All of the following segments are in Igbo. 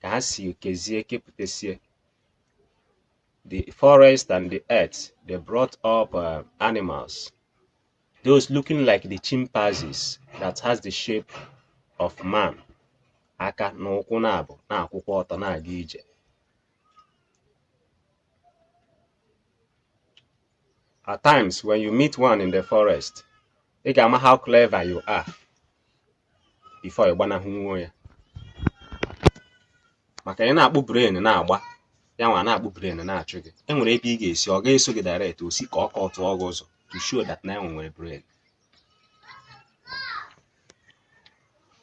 ka ha si ekezie kepụtasie the forest and the earth they brought up uh, animals those looking like the chimpanzees that has the shape of man aka na ụkwụ naabọ na-akwụkwa ọtọ na-aga ije At times, when you meet one in the forest, ị ga-ama how clever you are before ị gbanahụnwuo ya. Maka ị na-akpụ brain na-agba, ya nwa na-akpụ brain na-achụ gị. E nwere ebe ị ga-esi, ọ ga-eso gị direct, o si ka ọ ka ọ tụọ gị ụzọ to show that na enwe nwere brain.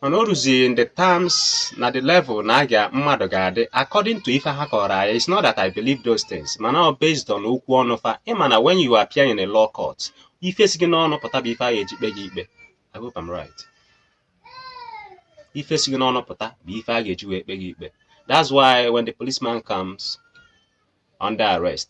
mana o ruzighị in the terms na the level na aga mmadụ ga-adị according to ife ha kọrọ anyị it's not that I believe those things mana ọ based on okwu ọnụ fa ị ma na when you appear in a law court ife si gị n'ọnụ pụta bụ ife a ga-eji kpe gị ikpe I hope I'm right ife si gị n'ọnụ pụta bụ ife a ga-eji wee kpe gị ikpe that's why when the policeman comes under arrest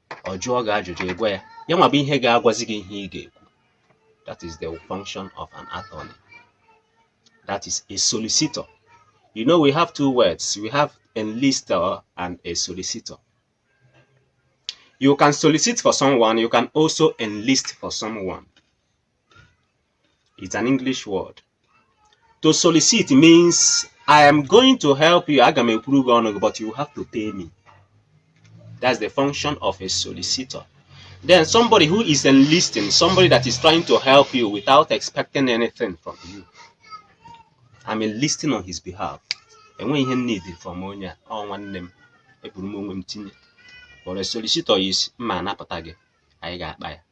ọ jụọ gị ajụjụ ị gwa ya ya nwa bụ ihe ga-agwazi gị ihe ị ga-ekwu that is the function of an attorney that is a solicitor you know we have two words we have enlister and a solicitor you can solicit for someone you can also enlist for someone It's an English word. To solicit means I am going to help you. Aga m ekwuru gị ọnụ gị, but you have to pay me. That's the function of a solicitor. Then somebody who is enlisting, somebody that is trying to help you without expecting anything from you. I'm enlisting on his behalf. Enweghị ihe m need from onye a, ọ nwanne m, eburu m onwe m tinye. But a solicitor is m ma-anapụta gị, anyị ga-akpa ya.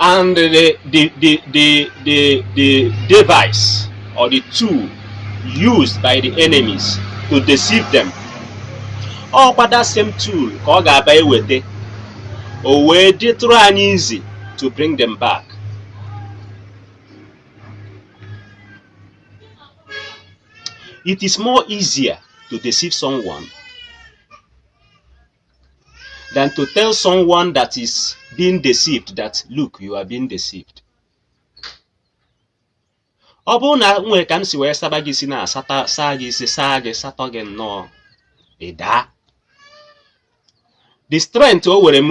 And the, the, the, the, the, the device or the tool used by the enemies to deceive them. Ọ kwa that same tool ka ọ ga-abụ e weta o wee dịtụrụ anyị easy to bring them back. It is more easier to deceive someone than to tell someone that is being deceived that look you are being deceived ọ bụrụ na e nwere ka m si wee saba gị isi na asata saa gị isi saa gị satuo gị nnọọ ị daa the strength o were m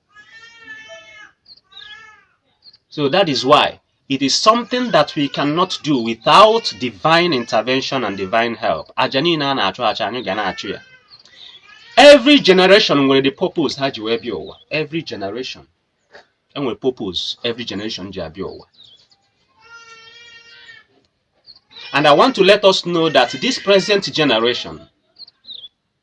So that is why it is something that we cannot do without divine intervention and divine help. Aja niile a na-achụ achụ anyị ga na-achụ ya. Every generation nwere the purpose ha ji wee bịa ụwa. Every generation enwere purpose every generation ji abịa ụwa. And I want to let us know that this present generation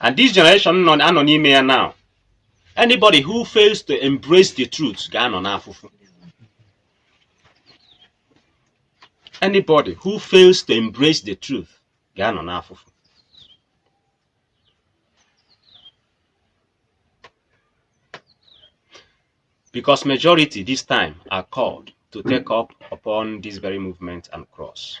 and this generation nọ anọ n'ime ya now anybody who fails to embrace the truth ga-anọ n'afụfụ anybody who fails to embrace the truth ga-anọ n'afụfụ because majority this time are called to take up upon this very movement and cross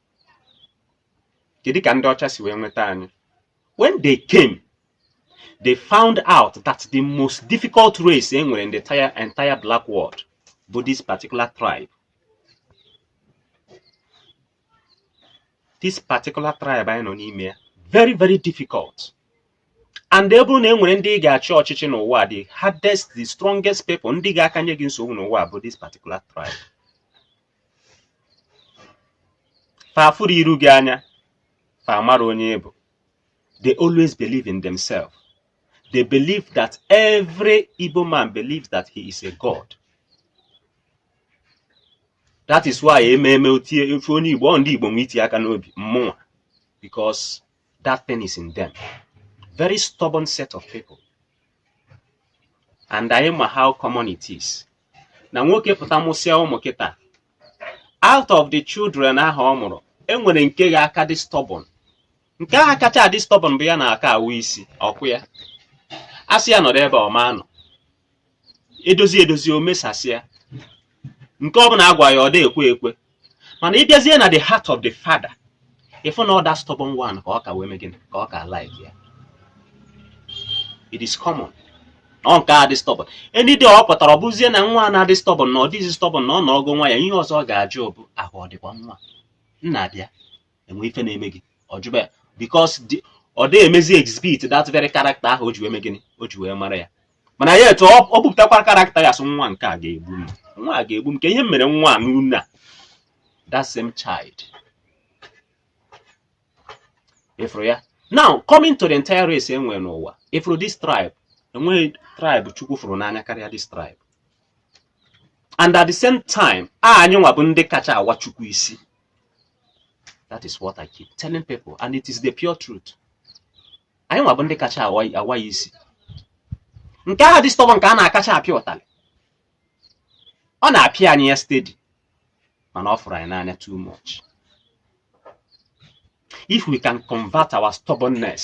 kedu ka ndị ọcha si wee nweta anyị when they came they found out that the most difficult race e nwere in the entire black world bụ this particular tribe this particular tribe anyị nọ n'ime ya very very difficult and ọ bụrụ na e nwere ndị ị ga-achị ọchịchị n'ụwa the hardest the strongest people ndị ga-akanye gị nsogbu n'ụwa bụ this particular tribe fa afụrụ iru gị anya fa amara onye ị bụ they always believe in themselves they believe that every Igbo man believes that he is a god that is why ememe otie ofe onye Igbo ọ ndị Igbo nwe iti aka n'obi mmụnwa because that thing is in them very stubborn set of people and anyị ma how common it is na nwoke pụta mụsịa ụmụ kịta out of the children ahụ ọ mụrụ enwere nke ga-aka dị stubborn nke ahụ kacha adị stubborn bụ ya na-aka awụ isi ọkụ ya asị ya nọrọ ebe ọ ma anọ edozi edozi o mesasịa nke ọ bụla a gwa ya ọ dị ekwe ekwe mana ị bịazie na the heart of the father ị fụ na ọ that stubborn one ka ọ ka wee mee gịnị ka ọ ka like ya it is common na ọ nke a dị stubborn any day ọ pụtara ọ bụzie na nwa a na-adị stubborn na ọ dịghịzi stubborn na ọ nọrọgo nwayọ ihe ọzọ ọ ga-ajụ bụ ahụ ọ dịkwa nwa nna bịa enwe ife na-eme gị ọ jụba ya because ọ dịghị emezi exhibit that very character ahụ o ji wee mee gịnị o ji wee mara ya mana yet ọ bupụtakwara character ya sị nwa nke a ga-egbu m nwa a ga-egbu m kee ihe m mere nwa a n'ụnọ a that same child ịfụrụ ya now coming to the entire race e nwere n'ụwa ịfụrụ this tribe enweghị tribe chukwu fụrụ n'anya karịa this tribe and at the same time a anyị nwa bụ ndị kacha awa chukwu isi that is what i keep telling people and it is the pure truth anyị nwa bụ ndị kacha awa ya isi nke ahụ dị stubborn ka a na-akacha apịa ụtalị ọ na-apịa anyị ya steady mana ọ fụrụ anyị n'anya too much if we can convert our stubbornness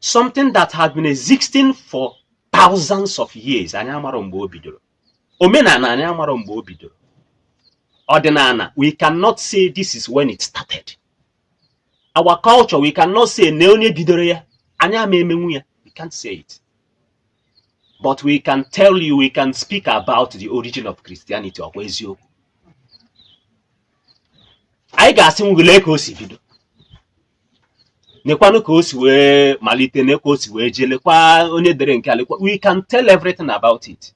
something that has been existing for thousands of years anyị amarọ mgbe o bidoro omenana anyị amarọ mgbe o bidoro ọdịnana we cannot say this is when it started our culture we cannot say na onye bidoro ya anyị ama emenwu ya we can't say it but we can tell you we can speak about the origin of Christianity ọkwa eziokwu anyị ga-asịnwu gị lee ka o si bido nekwanụ ka o si wee malite nee ka o si wee jee lekwa onye dere nke a lekwa we can tell everything about it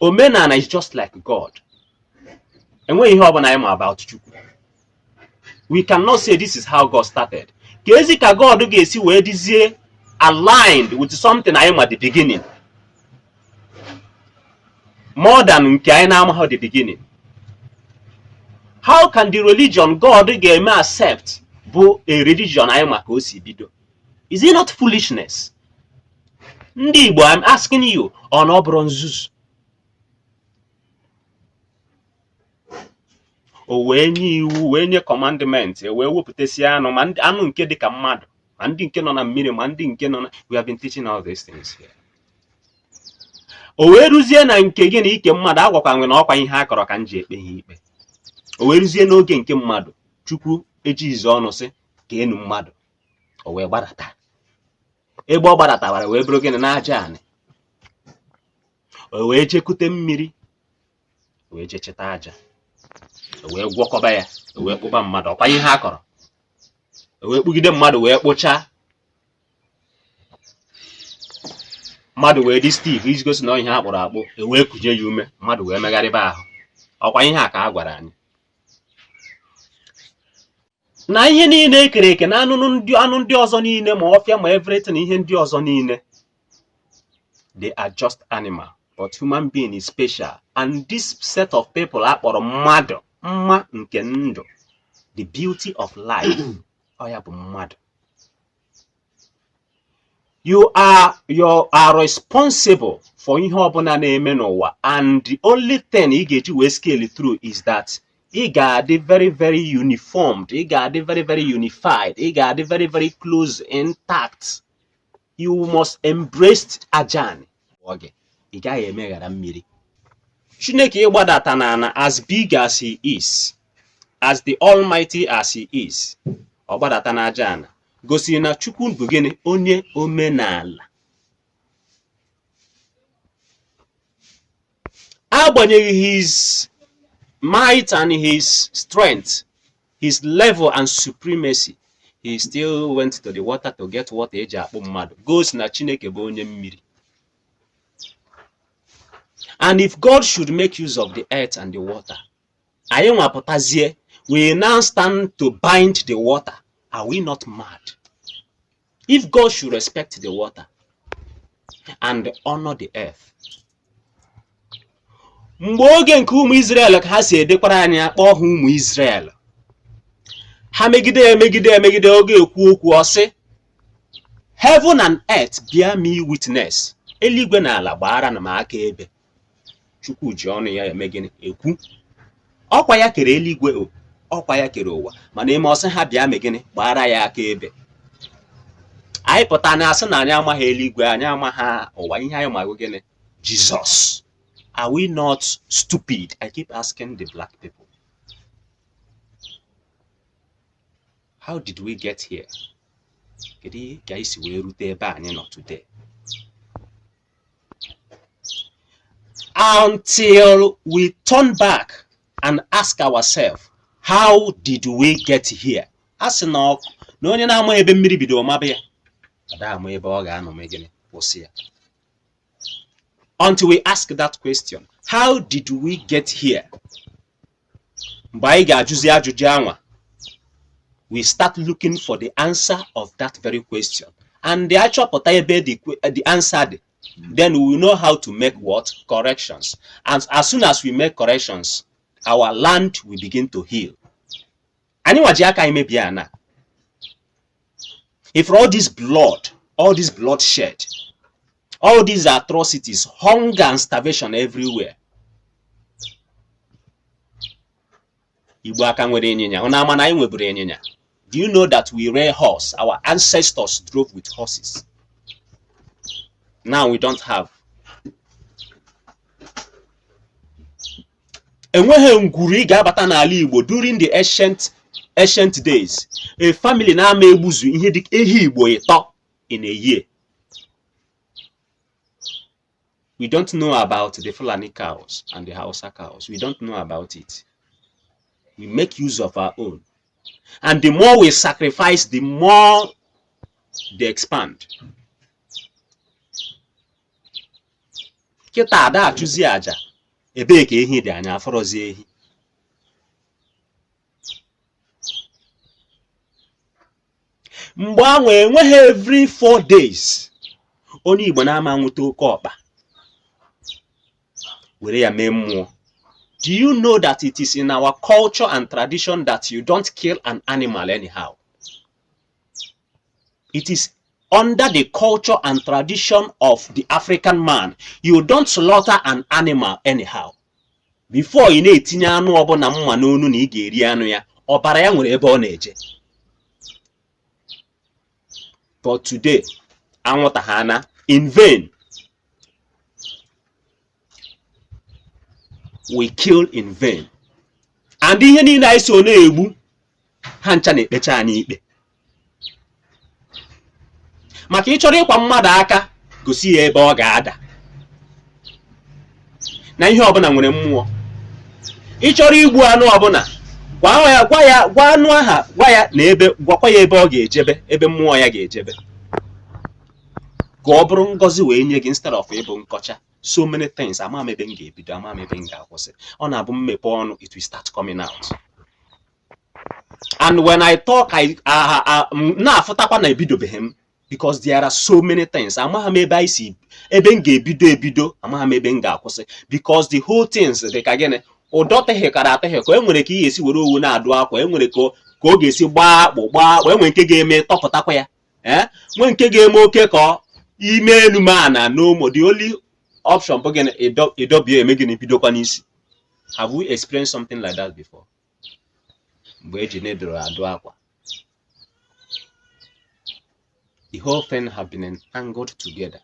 omenana is just like god enweghị ihe ọbụna anyị ma about chukwu we cannot say this is how god started keezi ka god ga-esi wee dịzie aligned with something anyị ma the beginning more than nke anyị na-amaghị the beginning how can the religion God ga-eme accept bụ a religion anyị ma ka o si bido is it not foolishness ndị Igbo I'm asking you ọ na ọ bụrọ nzuzu o wee nye iwu wee nye commandment e wee wepụtasị anụ ma anụ nke dị ka mmadụ ma ndị nke nọ na mmiri ma ndị nke nọ na we have been teaching all these things here o wee ruzie na nke gịnị ike mmadụ agwakwa nwe na ọkwa ihe a kọrọ ka m ji ekpe ha ikpe o wee ruzie n'oge nke mmadụ chukwu ejighịzi ọnụ sị ka e nwee mmadụ o wee gbadata ebe ọ gbadatabara wee bụrụ gịnị n'aja anị o wee jekute mmiri o wee jechịta aja o wee gwọkọba ya o wee kpụba mmadụ ọkwa ihe a kọrọ o wee kpụgide mmadụ wee kpụchaa mmadụ wee dị stiff iji gosi na ọ ihe a kpụrụ akpụ e wee kuje ya ume mmadụ wee megharịba ahụ ọkwa ihe a ka a gwara anyị na ihe niile e kere eke na anụ ndị ọzọ niile ma ọfịa ma everything ihe ndị ọzọ niile they are just animal but human being is special and this set of people a kpọrọ mmadụ mma nke ndụ the beauty of life ọ ya bụ mmadụ you are you are responsible for ihe ọbụna na-eme n'ụwa and the only thing ị ga-eji wee scale through is that ị ga-adị very very uniformed ị ga-adị very very unified ị ga-adị very very close intact you must embrace aja anị gị ị gaghị emeghara mmiri chineke ịgbadata n'ana as big as he is as the almighty as he is ọ gbadata n'aja ana gosiri na chukwu bụ gịnị onye omenala agbanyeghị his might and his strength his level and supremacy he still went to the water to get water eji akpụ mmadụ gosi na chineke bụ onye mmiri And if God should make use of the earth and the water, anyị nwa pụtazie we now stand to bind the water are we not mad if god should respect the water and honor the earth mgbe oge nke ụmụ Israel ka ha si edekwara anyị akpọ ha ụmụ Israel ha megide emegide emegide ọ ga-ekwu okwu ọ sị heaven and earth bear me witness eluigwe na ala gbaaranụ m akaebe chukwu ji ọnụ ya eme gịnị ekwu ọkwa ya kere eluigwe o ọkwa ya kere ụwa mana e mee ọ sị ha bịa mee gịnị gbaara ya akaebe anyị pụta na-asị na anyị amaghị eluigwe anyị amaghị ụwa ihe anyị ma bụ gịnị Jesus are we not stupid i keep asking the black people how did we get here kedu ka anyị si wee rute ebe anyị nọ today until we turn back and ask ourselves how did we get here a sị na ọ- na onye na-ama ebe mmiri bidoro maba ya ada ama ebe ọ ga-anọ mee gịnị kwụsị ya until we ask that question how did we get here mgbe anyị ga-ajụzi ajụjụ anwa we start looking for the answer of that very question and the achọpụta ebe the, the answer dị then we know how to make what corrections and as soon as we make corrections our land will begin to heal anyị nwa ji aka anyị mebie ana if all this blood all this bloodshed all these atrocities hunger and starvation everywhere igbo a ka nwere ịnyịnya ụnụ ama na anyị nweburu ịnyịnya do you know that we rear horse our ancestors drove with horses now we don't have enweghị ngwuru ị ga-abata n'ala Igbo during the ancient days a family na-ama egbuzu ihe dị ehi Igbo ịtọ in a year we don't know about the Fulani cows and the Hausa cows we don't know about it we make use of our own and the more we sacrifice the more they expand kịta ada achụzi aja ebee ka ehi dị anya afụrọzi ehi mgbe ahụ enweghị every four days onye igbo na-ama nwụta oke ọkpa were ya mee mmụọ do you know that it is in our culture and tradition that you don't kill an animal anyhow It is under the culture and tradition of the African man. You don't slaughter an animal anyhow. Before ị na-etinye anụ ọbụla mma n'onu na ị ga-eri anụ ya, ọbara ya nwere ebe ọ na-eje. But today, anwụta ha na in vain. we kill in vain and ihe niile anyị so na-egbu ha ncha na-ekpecha anyị ikpe maka ị chọrọ ịkwa mmadụ aka gosi ya ebe ọ ga-ada na ihe ọbụla nwere mmụọ ị chọrọ igbu anụ ọbụla gwa ya gwa ya gwa anụ aha gwa ya na ebe gwakwa ya ebe ọ ga-ejebe ebe mmụọ ya ga-ejebe ka ọ bụrụ ngọzi wee nye gị instead of ịbụ nkọcha so many things ama m ebe m ga-ebido ama m ebe m ga-akwụsị ọ na-abụ m mepe ọnụ it will start coming out and when I talk ị na-afụtakwa na ebidobeghị m because there are so many things amaghị m ebe anyị si ebe m ga-ebido ebido amaghị m ebe m ga-akwụsị because the whole things dị ka gịnị ụdọ tehịkara atehịkọ e nwere ka ị ga-esi were owu na-adụ akwa e nwere ka ọ ga-esi gbaa akpụ gbaa akpụ e nwere nke ga-eme tọpụtakwa ya ee eh? nwe nke ga-eme oke ka i mee enu mee ana no more the only option bụ gịnị ịdọbi ya mee gịnị bidokwa n'isi have we experienced something like that before mgbe e ji needle adụ akwa the whole thing have been entangled together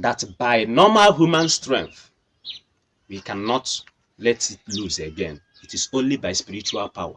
that by normal human strength we cannot let it loose again it is only by spiritual power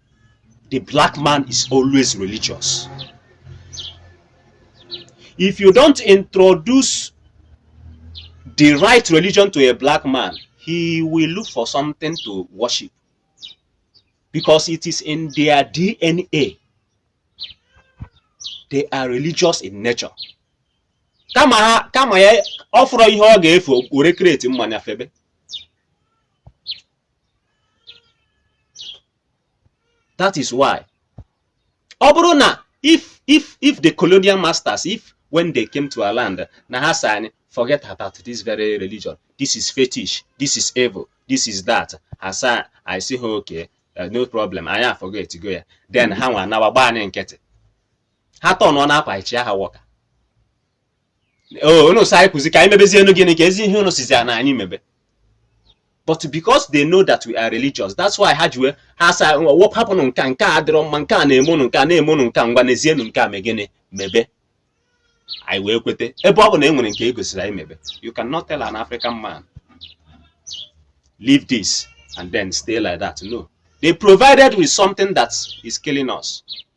the black man is always religious. If you don't introduce the right religion to a black man, he will look for something to worship because it is in their DNA. They are religious in nature. kama ha kama ya ọ fụrụ ihe ọ ga-efu were kreti mmanya febe that is why ọ bụrụ na if if if the colonial masters if when they came to our land na ha sị anyị forget about this very religion this is fetish this is evil this is that ha sị anyị sị ha okay uh, no problem anyị forgetgo ya then ha nwa anawa gbaa anyị nkịtị ha tọnụọ na akwa ichi aha wọka unu sị anyị kwuzi ka anyị mebezienụ gịnị keezi ihe unu sịzi na anyị mebe but because they know that we are religious that's why ha ji wee ha sị wepụ hapụnụ nke a nke a adịrọ mma nke a na-eme unu nke a na-eme unu nke a ngwa neezienụ nke a mee gịnị mebe anyị wee kweta ebe ọ bụ na e nwere nke e gosiri anyị mebe you cannot tell an African man leave this and then stay like that no they provided with something that is killing us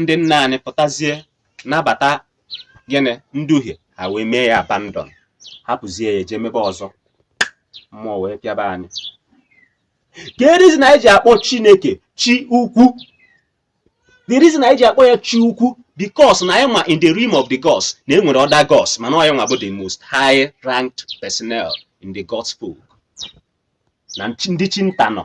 ndị nna anyị pụtazie nabata gịnị nduhie ha wee mee ya abandon hapụzie ya jee mebe ọzọ mmụọ wee pịaba anyị the reason anyị ji akpọ chineke chi ukwu the reason anyị ji akpọ ya chi ukwu because na anyị ma in the realm of the gods na e nwere other gods mana onye nwa bụ the most high ranked personnel in the gods book na ndị chi nta nọ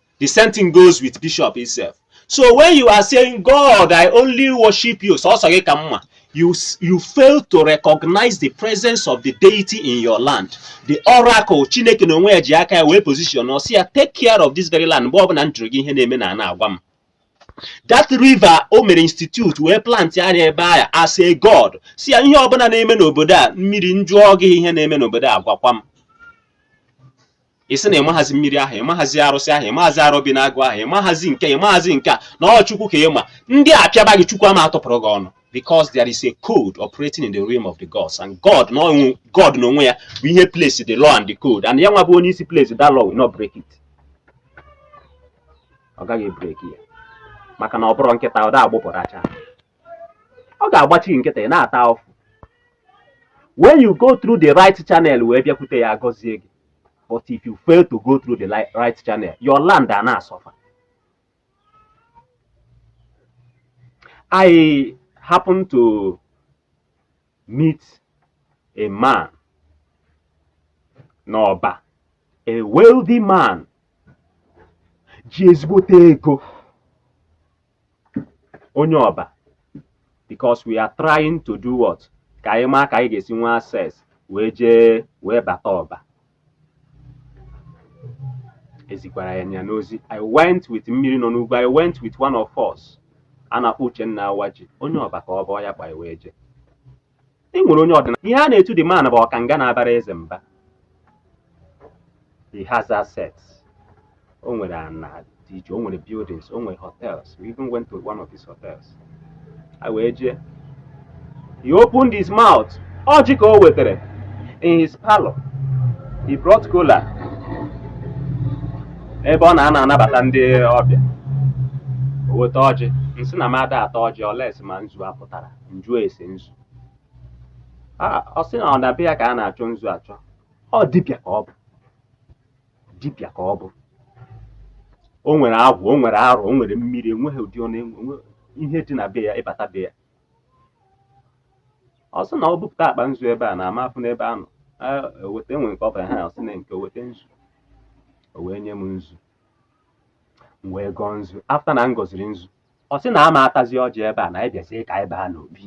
the same thing goes with bishop itself so when you are saying god i only worship you sọsọ gị ka m ma you s- you fail to recognize the presence of the deity in your land the oracle chineke na onwe ya ji aka ya wee position ọ sị ya take care of this very land mgbe ọbụla m jụrụ gị ihe na-eme n'ana a gwa m that river o mere institute wee plant ya ebe ahụ as a god sị ya ihe ọbụla na-eme n'obodo a mmiri m jụọ gị ihe na-eme n'obodo a gwakwa m ị sị na ị maghazi mmiri ahụ ị maghazi arụsị ahụ ị maghazi arobinagụ ahụ ị maghazi nke ị maghazi nke a na ọ chukwu ka ị ma ndị a pịaba gị chukwu ama atụpụrụ gị ọnụ because there is a code operating in the realm of the gods and god na onwe god na onwe ya bụ ihe place the law and the code and ya nwa bụ onye isi place that law will not break it ọ gaghị break ya maka na ọ bụrọ nkịta ọ da agbụpụ rachaa ọ ga-agbachi gị nkịtị ị na-ata afụfụ when you go through the right channel wee bịakwute ya ọ gọzie gị but if you fail to go through the right channel your land a na-asọfa I happen to meet a man n'ọba a wealthy man ji ezigbote ego onye ọba because we are trying to do what ka anyị maa ka anyị ga-esi nwee access wee jee wee bata ọba ezikwara ya nya n'ozi i went with mmiri nọ n'ugwu i went with one of us a na-akpọ uchenna awaji onye ọba ka ọ bụ ọ ya kpọ anyị wee je e nwere onye ọdịnala ihe a na-etu the man bụ ọkanga na-abara eze mba he has assets o nwere ana dị iche o nwere buildings o nwere hotels we even went to one of his hotels anyị wee jee he opened his mouth ọjị ka o wetara in his parlor he brought kola ebe ọ na-anọ anabata ndị ọbịa o weta ọjị m sị na m ada ata ọjị unless ma nzu ọ pụtara m jụọ ese nzu A- ọ sị na ọ na be ya ka a na-achọ nzu achọ ọ dibịa ka ọ bụ dibịa ka ọ bụ o nwere agwụ o nwere arọ o nwere mmiri enweghị ụdị ọ na-enwe enwe- ihe dị na be ya ị bata be ya ọ sị na ọ bupụta akpa nzu ebe a na ama afụ n'ebe a nọ o weta enwe nke ọ bụla ha ọ sị na nke o weta nzu o wee nye m nzu m wee gọọ nzu after na m gọziri nzu ọ sị na ama atazi ọjị ebe a na anyị bịazie ka anyị baa n'obi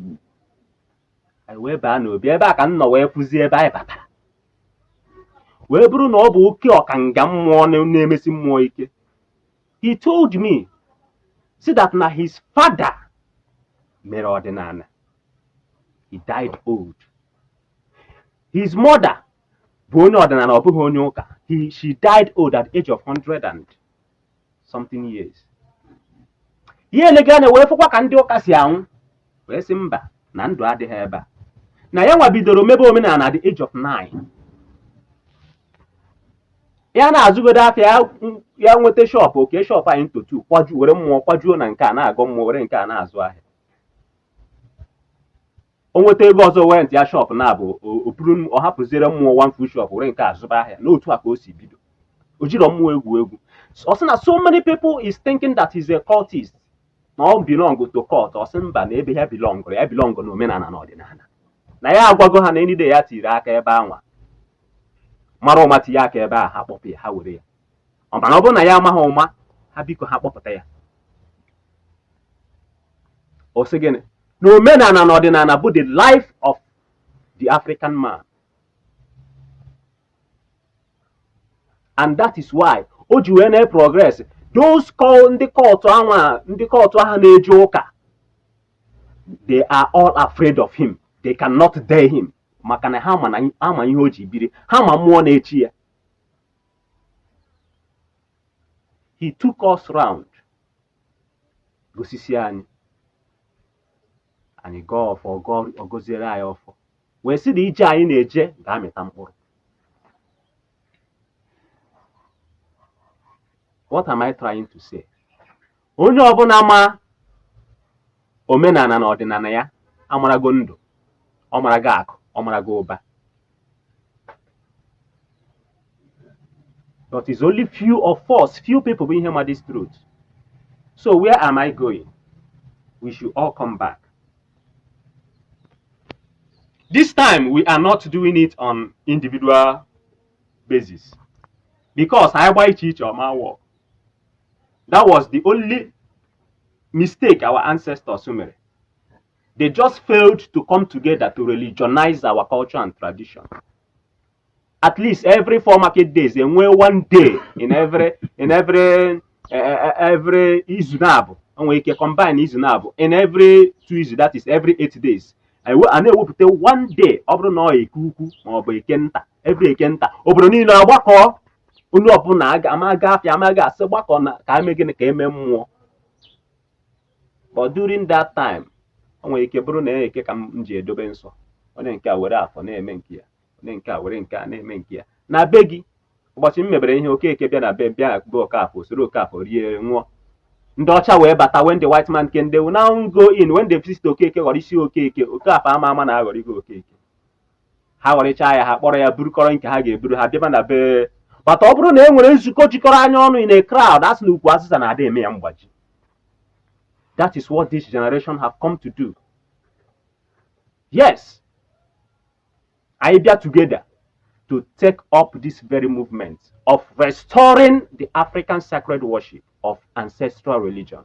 anyị wee baa n'obi ebe a ka m nọ wee fụzie ebe anyị batara wee bụrụ na ọ bụ oke ọkanga mmụọ na- na-emesi mmụọ ike he told me sị that na his father mere ọdịnana he died old his mother bụ onye ọdịnana ọ bụghị onye ụka he she died old at the age of 100 and something years ya elega anya wee fụkwa ka ndị ụka si anwụ wee sị mba na ndụ adịghị ebe a na ya nwa bidoro mebe omenana at the age of 9 ya na-azụgodo afịa ya n- ya nweta shop o kee shop anwa into two kwaju were mmụọ kwajuo na nke a na-agọ mmụọ were nke a na-azụ ahịa o nweta ego ọzọ wee rentịa shop naabọ ọ bụrụ ọ hapụziere mmụọ one full shop were nke a zụba ahịa na otu a ka o si bido o jirọ mmụọ egwu egwu ọ sị na so many people is thinking that he's a cultist na ọ belong to cult ọ sị mba na ebe ya belong ya belong na omenana na ọdịnana na ya agwago ha na any day ya tiri aka ebe anwa mara ụma tinye aka ebe a ha kpọpụ ya ha were ya ọ mana ọ bụrụ na ya amaghị ụma ha biko ha kpọpụta ya ọ sị gịnị na omenana na ọdịnana bụ the life of the African man and that is why o ji wee na-progress those cul- ndị cult anwa ndị cult ahụ na-eje ụka they are all afraid of him they cannot dare him maka na ha ma ihe o ji biri ha ma mmụọ na-eche ya he took us round gosisi anyị anyị gọọ ọfọ gọọ ọ gọziere anyị ọfọ wee sị na ije anyị na-eje ga-amịta mkpụrụ what am I trying to say onye ọbụla ma omenana na ọdịnana ya amarago ndụ ọ marago akụ ọ marago ụba but it's only few of us few people bụ ihe ma this truth so where am i going we should all come back this time we are not doing it on individual basis because anyị gba iche iche ọ ma-work that was the only mistake our ancestors mere they just failed to come together to religionize our culture and tradition at least every four market days e nwee one day in every in every eh, eh, eh, every izu naabọ e nwere ike combine izu naabọ in every two izu that is every eight days ewe- a na-ewepụta one day ọ bụrụ na ọ eke ukwu ma ọ bụ eke nta every eke nta obodo niine agbakọ onye ọbụla ama ga afịa amaghị asị gbakọ na ka eme gịnị ka eme mmụọ but during that time o nwere ike bụrụ na eke ka m ji edobe nsọ onye nke a were afọ na-eme nke ya onye nke a were nke a na-eme nke ya na be gị ụbọchị m mebere ihe okeke bịa na be bịa be okafọ soro okafọ rie ṅụọ ndị ọcha wee bata when the white man came they will now go in when they visit okeke ghọrọ isi okeke okafọ ama ama na aghọrọ isi okeke ha ghọrịchaa ya ha kpọrọ ya burukọrọ nke ha ga-eburu ha bịaba na be but ọ bụrụ na e nwere nzukọ jikọrọ anyị ọnụ in a crowd a sị na ukwu azịza na ada eme ya mgbaji that is what this generation have come to do yes anyị bịa together to take up this very movement of restoring the African sacred worship of ancestral religion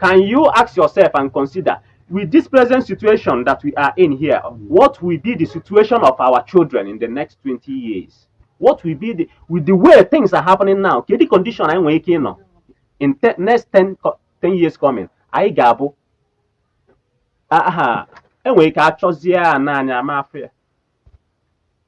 Can you ask yourself and consider with this present situation that we are in here, what will be the situation of our children in the next 20 years? What will be the with the way things are happening now? Kedu condition anyị nwere ike ịnọ in the next 10, 10 years coming? Anyị ga-abụ aha enwere ike achọzie ya n'anya ama afụ ya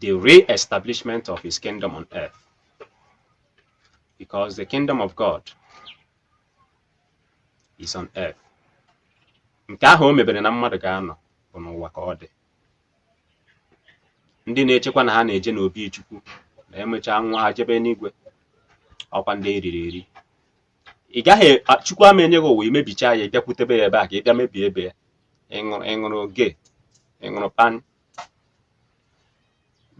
the re-establishment of his kingdom on earth. Because the kingdom of God is on earth. Nke ahụ o mebere na mmadụ ga-anọ bụ n'ụwa ka ọ dị. Ndị na-echekwa na ha na-eje n'obi Chukwu na emechaa nwa ha jebe n'igwe ọkwa ndị eriri eri. Ị gaghị Chukwu ama enye gị ụwa imebicha ya ịbịakwutebe ya ebe a ka ị bịa mebie ebe ya ịṅụrụ ịṅụrụ gee ịṅụrụ pan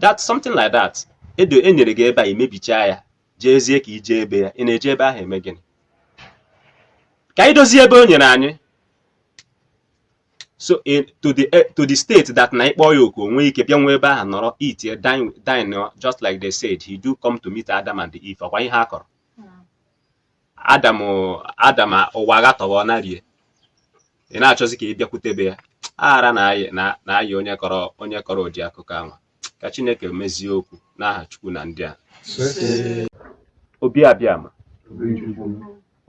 that something like that e nyere gị ebe a imebichaa ya jeezie ka ije ebe ya ị na-eje ebe ahụ eme gịnị ka anyị dozie ebe o nyere anyị so in, to the eh, to the state that na ịkpọ ya oku o nwee ike bịa nwee ebe ahụ nọrọ eat dine dine just like they said he do come to meet Adam and Eve ọkwa ihe a kọrọ Adam Adam ụwa agatọba ọ narie ị na-achọzi ka ị bịakwutebe ya ara na-ayị na na-ayị onye kọrọ onye kọrọ ụdị akụkọ ahụ ka Chineke mezie okwu n'aha Chukwu na ndị a obi abịama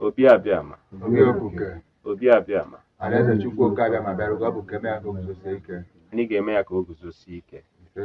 obi abịama obi abịama Alaeze Chukwu oke abịama bịara oge ọ bụ ka eme ya ka o guzosie ike. anyị ga-eme ya ka o guzosie ike Ise.